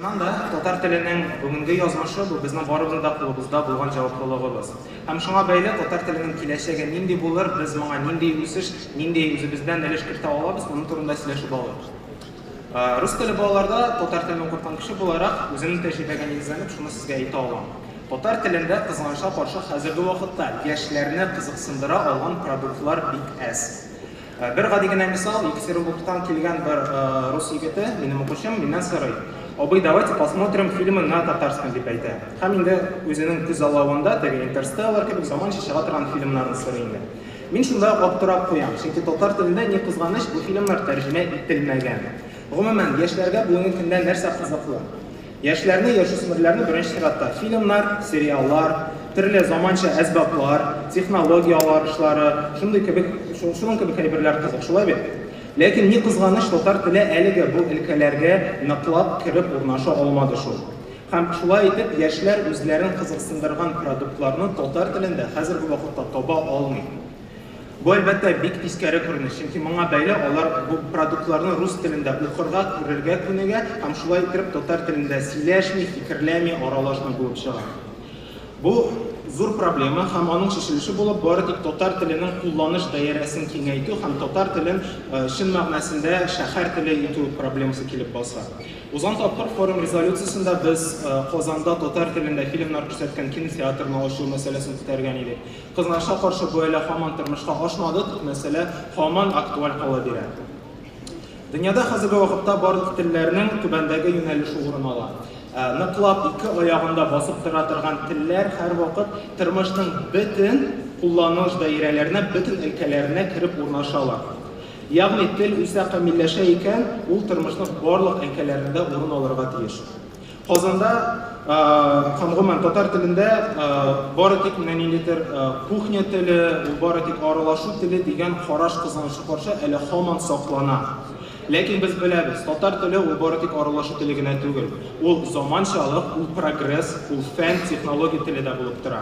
Шуннан да татар теленең бүгенге язмышы бу безнең барыбызның да кулыбызда булган җаваплылыгыбыз. Һәм шуңа бәйле татар теленең киләчәге нинди булыр, без моңа нинди үсеш, нинди үзебездән өлеш кертә алабыз, моның турында сөйләшеп алырбыз. Рус теле балаларда татар телен укыткан кеше буларак, үземнең тәҗрибәгә нигезләнеп, шуны сезгә әйтә алам. Татар телендә, кызганычка каршы, хәзерге вакытта яшьләрне кызыксындыра алган продуктлар бик әз. Бер гади генә мисал, Екатеринбургтан килгән бер рус егете, минем укучым, миннән сорый, Абый, давайте посмотрим фильмы на татарском, дип әйтә. Һәм инде үзенең күзаллавында теге Интерстеллар кебек заманча чыга торган фильмнарны сорый инде. Мин шунда ук аптырап куям, чөнки татар телендә, ни кызганыч, бу фильмнар тәрҗемә ителмәгән. Гомумән, яшьләргә бүгенге көндә нәрсә кызыклы? Яшьләрне, яшүсмерләрне беренче чиратта фильмнар, сериаллар, төрле заманча әсбаплар, технология аларышлары, шундый кебек, шуның кебек әйберләр кызык, шулай бит? Ләкин, ни кызганыч, татар теле әлегә бу өлкәләргә ныклап кереп урнаша алмады шул. Һәм шулай итеп, яшьләр үзләрен кызыксындырган продуктларны татар телендә хәзерге вакытта таба алмый. Бу, әлбәттә, бик тискәре күренеш, чөнки моңа бәйле алар бу продуктларны рус телендә укырга, күрергә күнегә һәм шулай иттереп татар телендә сөйләшми, фикерләми, аралашмый булып чыга. Бу, зур проблема һәм аның чишелеше булып бары тик татар теленең кулланыш даирәсен киңәйтү һәм татар телен чын мәгънәсендә шәһәр теле итү проблемасы килеп баса. Узган тапкыр форум резолюциясендә без Казанда татар телендә фильмнар күрсәткән кинотеатрны ачу мәсьәләсен күтәргән идек. Кызганычка каршы, бу әле һаман тормышка ашмады, тик мәсьәлә һаман актуаль кала бирә. Дөньяда хәзерге вакытта барлык телләрнең түбәндәге юнәлеше урын ала. Ныклап ике аягында басып тора торган телләр һәрвакыт тормышның бөтен кулланыш даирәләренә, бөтен өлкәләренә кереп урнашалар. Ягъни тел үсә, камилләшә икән, ул тормышның барлык әңкәләрендә урын алырга тиеш. Казанда һәм гомумән татар телендә бары тик менә ниндидер кухня теле, ул бары тик аралашу теле дигән караш кызганыч каршы әле һаман саклана. Ләкин без беләбез, татар теле ул бары тик аралашу теле генә түгел. Ул заманчалык, ул прогресс, ул фән, технология теле дә булып тора.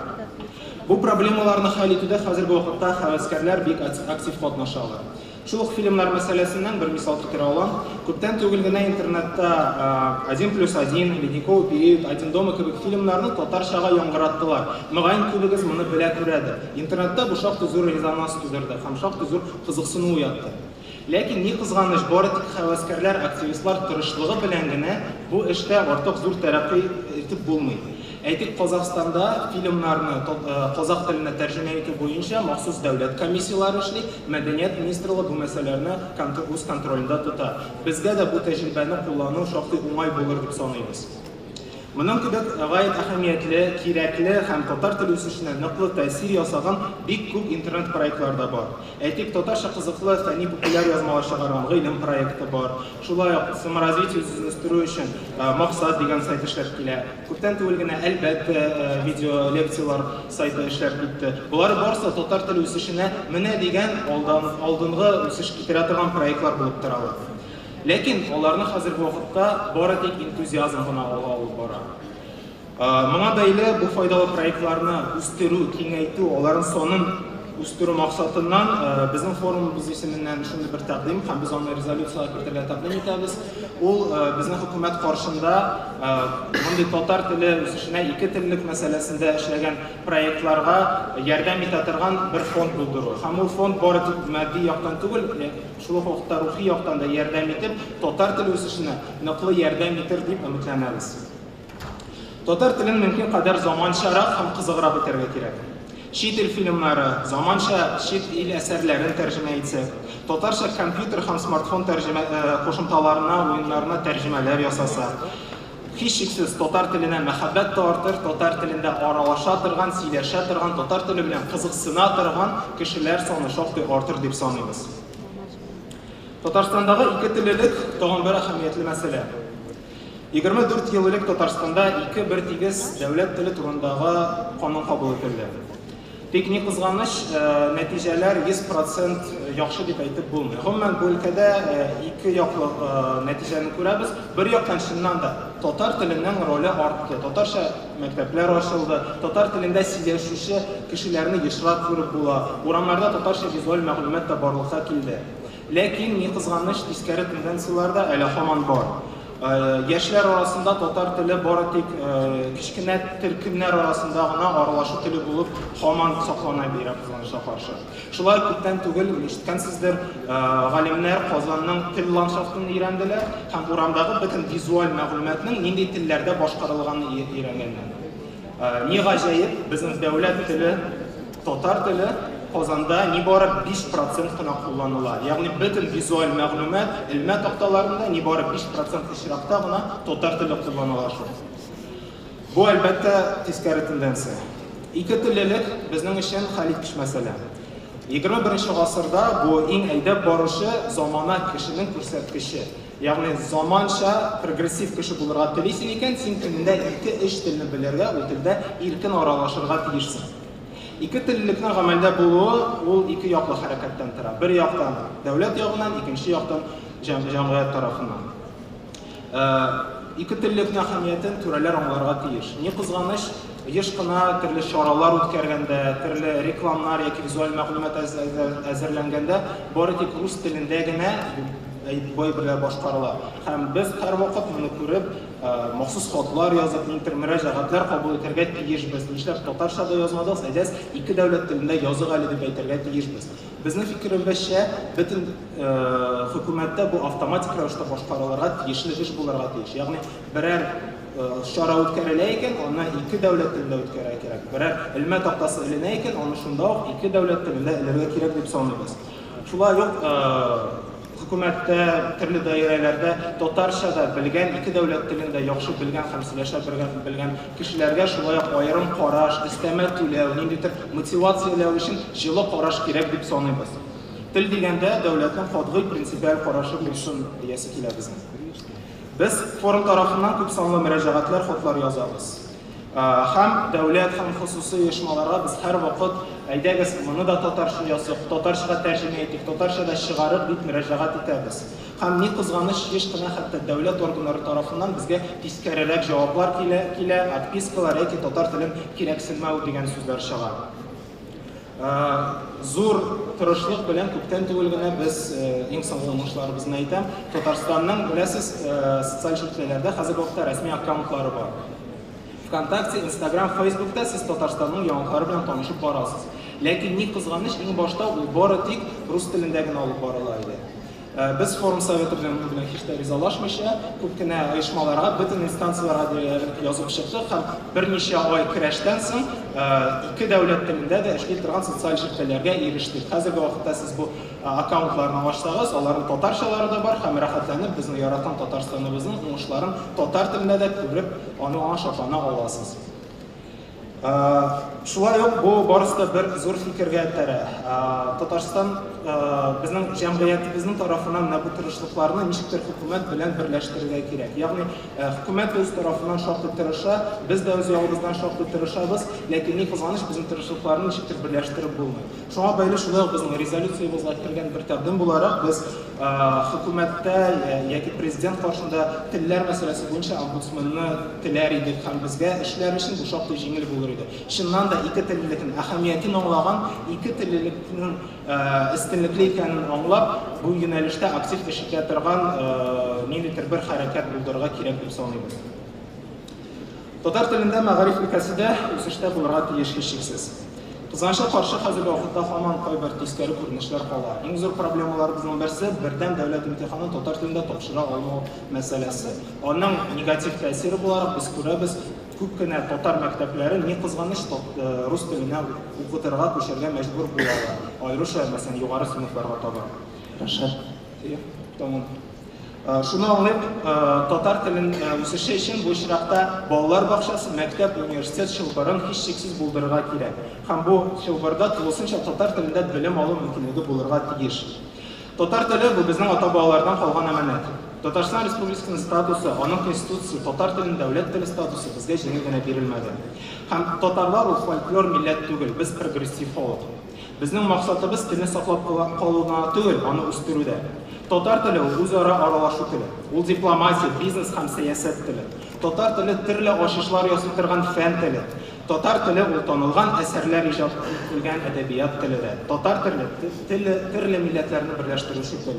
Бу проблемаларны хәл итүдә хәзерге вакытта һәвәскәрләр бик актив катнашалар. Шул ук фильмнар мәсьәләсеннән бер мисал китерә алам. Күптән түгел генә интернетта Один плюс один, Ледниковый период, Один дома кебек фильмнарны татарчага яңгыраттылар. Мөгаен, күбегез моны белә-күрәдер. Интернетта бу шактый зур резонанс тудырды һәм шактый зур кызыксыну уятты. Ләкин, ни кызганыч, бары тик һәвәскәрләр, активистлар тырышлыгы белән генә бу эштә артык зур тәрәккый итеп булмый. Әйтик, Казахстанда фильмнарны казах теленә тәрҗемә итү буенча махсус дәүләт комиссияләре эшли, Мәдәният министрлыгы бу мәсьәләләрне үз контролендә тота. Безгә дә бу тәҗрибәне куллану шактый уңай булыр дип саныйбыз. Моның кебек гаять әһәмиятле, кирәкле һәм татар теле үсешенә ныклы тәэсир ясаган бик күп интернет-проектлар да бар. Әйтик, татарча кызыклы фәнни-популяр язмалар чыгарган Гыйлем проекты бар. Шулай ук Саморазвитие үзен үстерү өчен Максат дигән сайт эшләп килә. Күптән түгел генә Әлбәттә видеолекцияләр сайты эшләп китте. Болар барысы татар теле үсешенә менә дигән алдынгы үсеш китерә торган проектлар булып торалар. Ләкин аларны хәзерге вакытта бары тик энтузиазм гына алга алып бара. Моңа бәйле бу файдалы проектларны үстерү, киңәйтү, аларның санын үстерү максатыннан безнең форумыбыз исеменнән шундый бер тәкъдим һәм без аны резолюциягә кертергә тәкъдим итәбез. Ул безнең хөкүмәт каршында мондый татар теле үсешенә ике теллек мәсьәләсендә эшләгән проектларга ярдәм итә торган бер фонд булдыру. Һәм ул фонд бары тик матди яктан түгел, шул ук вакытта рухи яктан да ярдәм итеп, татар теле үсешенә ныклы ярдәм итер дип өметләнәбез. Татар телен мөмкин кадәр заманчарак һәм кызыграк итәргә кирәк. Чит ил фильмнары, заманча чит ил әсәрләрен тәрҗемә итсәк, татарча компьютер һәм смартфон тәрҗемә э, кушымталарына, уеннарына тәрҗемәләр ясаса, һичшиксез татар теленә мәхәббәт тә артыр, татар телендә аралаша торган, сөйләшә торган, татар теле белән кызыксына торган кешеләр саны шактый артыр дип саныйбыз. Татарстандагы ике теллелек тагын бер әһәмиятле мәсьәлә. 24 ел элек Татарстанда ике бертигез дәүләт теле турындагы канун кабул ителде. Тик ни кызганыч, э, нәтиҗәләр 100% яхшы дип әйтеп булмый. Гомумән, бу өлкәдә э, ике яклы э, нәтиҗәне күрәбез. Бер яктан, чыннан да, татар теленең роле артты. Татарча мәктәпләр ачылды, татар телендә сөйләшүче кешеләрне ешрак күреп була, урамнарда татарча визуаль мәгълүмат та барлыкка килде. Ләкин, ни кызганыч, тискәре тенденцияләр дә әле һаман бар. Яшьләр арасында татар теле бары тик кечкенә төркемнәр арасында гына аралашу теле булып һаман саклана бирә, кызганычка каршы. Шулай күптән түгел, ишеткәнсездер, галимнәр Казанның тел ландшафтын өйрәнделәр һәм урамдагы бөтен визуаль мәгълүматның нинди телләрдә башкарылганын өйрәнгәннәр. Ни гаҗәеп, безнең дәүләт теле, Татар теле Казанда нибары 5 процент кына кулланыла. Ягъни бөтен визуаль мәгълүмат, элмә такталарында нибары 5 процент очракта гына татар теле кулланыла шул. Бу, әлбәттә, тискәре тенденция. Ике теллелек безнең өчен хәл иткеч мәсьәлә. 21 гасырда бу иң әйдәп баручы замана кешенең күрсәткече. Ягъни заманча прогрессив кеше булырга телисең икән, син көнендә 2-3 телне белергә, ул телдә иркен аралашырга тиешсең. Ике теллелекнең гамәлдә булуы ул ике яклы хәрәкәттән тора. Бер яктан дәүләт ягыннан, икенче яктан җәмгыять тарафыннан. Э, ике теллелекнең әһәмиятен түрәләр аңларга тиеш. Ни кызганыч, еш кына төрле чаралар үткәргәндә, төрле рекламнар яки визуаль мәгълүмат әзерләнгәндә бары тик рус телендә генә бай берләр башкарыла. Һәм без һәрвакыт моны күреп, Махсус хатлар язып, интер мөрәҗәгатьләр кабул итәргә тиешбез. Нишләп татарча да язмадыгыз, әйдәс, ике дәүләт телендә язык әле дип әйтергә тиешбез. Безнең фикеребезчә, бөтен хөкүмәттә бу автоматик рәвештә башкарылырга тиешле эш булырга тиеш. Ягъни берәр чара үткәрелә икән, аны ике дәүләт телендә үткәрергә кирәк. Берәр элмә тактасы эленә икән, аны шунда ук ике дәүләт телендә элергә кирәк дип саныйбыз. Шулай ук Хөкүмәттә, төрле даирәләрдә татарча да белгән, ике дәүләт телен дә яхшы белгән һәм сөйләшә белгән кешеләргә шулай ук аерым караш, өстәмә түләү, ниндидер мотивацияләү өчен җылы караш кирәк дип саныйбыз. Тел дигәндә, дәүләтнең катгый принципиаль карашы булсын диясе килә безнең. Без форум тарафыннан күпсанлы мөрәҗәгатьләр, хатлар язабыз. Һәм дәүләт һәм хосусый оешмаларга без һәрвакыт, әйдәгез, моны да татарча языйк, татарчага тәрҗемә итик, татарча да чыгарык, дип мөрәҗәгать итәбез. Һәм, ни кызганыч, еш кына хәтта дәүләт органнары тарафыннан безгә тискәрерәк җаваплар килә, отпискалар яки татар телен кирәксенмәү дигән сүзләр чыга. Зур тырышлык белән күптән түгел генә без иң соңгы уңышларыбызны әйтәм. Татарстанның, беләсез, социаль шелтәләрдә хәзер вакытта рәсми аккаунтлары бар. ВКонтакте, Инстаграм, Фейсбукта сез Татарстанның яңалыклары белән танышып барасыз. Ләкин ни кызганыч, иң башта ул бары тик рус телендә генә алып барыла иде. Без форум советы белән бу белән һич тә ризалашмыйча, күп кенә оешмаларга, бөтен инстанцияләргә диярлек язып чыктык һәм берничә ай көрәштән соң ике дәүләт телендә дә эшли торган социаль җелпеләргә ирештек. Хәзерге вакытта сез бу аккаунтларны ачсагыз, аларның татарчалары да бар һәм рәхәтләнеп безнең яраткан Татарстаныбызның уңышларын татар телендә дә күреп, аны аңа шатлана аласыз. Шулай ук бу барысы да бер зур фикергә этәрә. Татарстан безнең җәмгыятебезнең тарафыннан менә бу тырышлыкларны ничектер хөкүмәт белән берләштерергә кирәк. Ягъни хөкүмәт үз тарафыннан шактый тырыша, без дә үз ягыбыздан шактый тырышабыз, ләкин ни кызганыч, безнең тырышлыкларны ничектер берләштереп булмый. Шуңа бәйле шулай ук безнең резолюциябезгә кергән бер тәкъдим буларак, без хөкүмәттә яки президент каршында телләр мәсьәләсе буенча омбудсменны теләр идек һәм безгә эшләр өчен бу шактый җиңел булыр иде. Чыннан да, ике теллелекнең әһәмиятен аңлаган, ике теллелекнең өстенлекле икәнен аңлап, бу юнәлештә актив эш итә торган ниндидер бер хәрәкәт булдырырга кирәк дип саныйбыз. Татар телендә мәгариф өлкәсе дә үсештә булырга тиеш һичшиксез. Кызганычка каршы, хәзерге вакытта һаман кайбер тискәре күренешләр кала. Иң зур проблемаларыбызның берсе, бердәм дәүләт имтиханын татар телендә тапшыра алмау мәсьәләсе. Аның негатив тәэсире буларак без күрәбез, күп кенә татар мәктәпләре, ни кызганыч, э, рус теленә укытырга күчәргә мәҗбүр булалар, аеруча, мәсәлән, югары сыйныфларга таба. Рәшат. Тәмам. Шуны аңлыйк, татар телен үсеше өчен бу очракта балалар бакчасы, мәктәп, университет чылбырын һичшиксез булдырырга кирәк. Һәм бу чылбырда тулысынча татар телендә белем алу мөмкинлеге булырга тиеш. Татар теле, бу безнең ата-бабалардан калган әманәт. Татарстан Республикасының статусы, аның Конституциясе, татар телен дәүләт теле статусы безгә җиңел генә бирелмәде. Һәм татарлар ул фольклор милләт түгел, без прогрессив халык. Безнең максатыбыз телне саклап калу гына түгел, аны үстерү дә. Татар теле ул үзара аралашу теле. Ул дипломатия, бизнес һәм сәясәт теле. Татар теле төрле ачышлар ясый торган фән теле. Татар теле ул танылган әсәрләр иҗат ителгән әдәбият теле дә. Татар теле, теле төрле милләтләрне берләштерүче тел.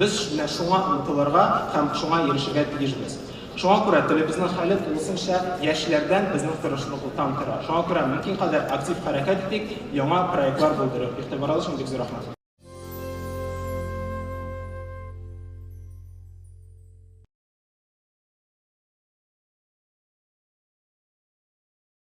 Без менә шуңа омтылырга һәм шуңа ирешергә тиешбез. Шуңа күрә телебезнең хәле тулысынча яшьләрдән безнең тырышлыклыктан тора. Шуңа күрә мөмкин кадәр актив хәрәкәт итик, яңа проектлар булдырып. Игътибарыгыз өчен бик зур рәхмәт.